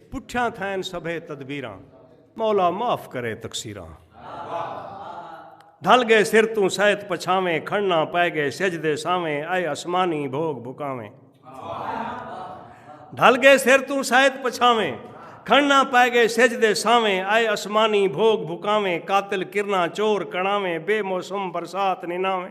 پٹھیاں تھین سبھے تدبیراں مولا معاف کرے تقصیراں ڈھل گئے سر توں سیت پچھاویں کھڑنا پے گئے سج دے ساویں اے اسمانی بھوگ بھکاویں ڈھل گئے سر توں سیت پچھاویں کھڑنا پے گئے سج دے ساویں اے اسمانی بھوگ بھکاویں قاتل کرنا چور کڑاویں بے موسم برسات نناویں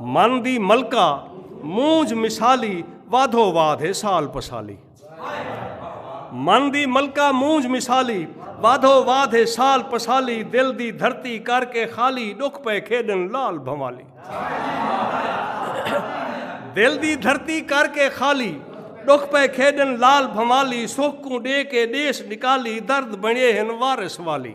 من دی ملکہ مونج مثالی وادھو واد ہے سال پسالی من دی ملکہ مونج مثالی وادھو واد ہے سال پسالی دل دی دھرتی کر کے خالی ڈکھ پے کھیڈن لال بھوالی دل دی دھرتی کر کے خالی ڈکھ پے کھیڈن لال بھوالی سکھ کو ڈے کے دیس نکالی درد بنے ہن وارث والی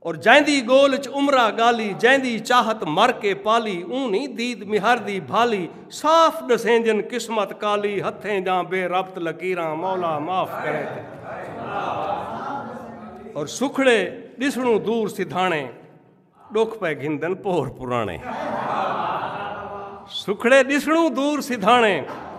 اور جیندی گول اچ عمرہ گالی جیندی چاہت مر کے پالی اوں نہیں دید مہر دی بھالی صاف ڈسیندین قسمت کالی ہتھیں جاں بے ربط لکیراں مولا معاف کرے تے اور سکھڑے ڈسنوں دور سدھانے ڈکھ پے گھندن پور پرانے سکھڑے ڈسنوں دور سدھانے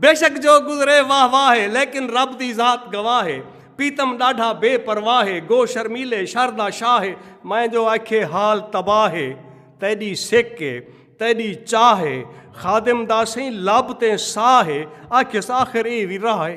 بے شک جو گزرے واہ واہ ہے لیکن رب دی ذات گواہ ہے پیتم ڈاڈھا بے پرواہ ہے گو شرمیلے شردا شاہ ہے میں جو آکھے حال تباہ ہے تیڈی سکھ ہے تیڈی چاہ ہے خادم داسیں لب تے ساہ ہے آکھس آخر اے وی راہ ہے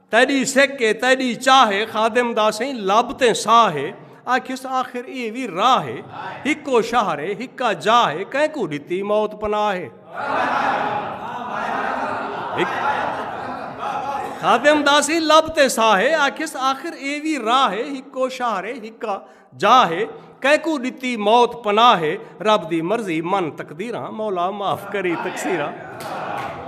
تیݙی سک ہے تیݙی چاہ ہے خادم دا سئیں لب تے ساہ ہے آکھیس آخر ایہ وی راہ ہے ہکو شہر ہے ہکا جاہ ہے کہیں کو ڈتی موت پناہ ہے خادم دا سئیں لب تے ساہ ہے آکھیس آخر ایہ وی راہ ہے ہکو شہر ہے ہکا جاہ ہے کہیں کو ڈتی موت پناہ ہے رب دی مرضی من تقدیراں مولا معاف کری تقصیراں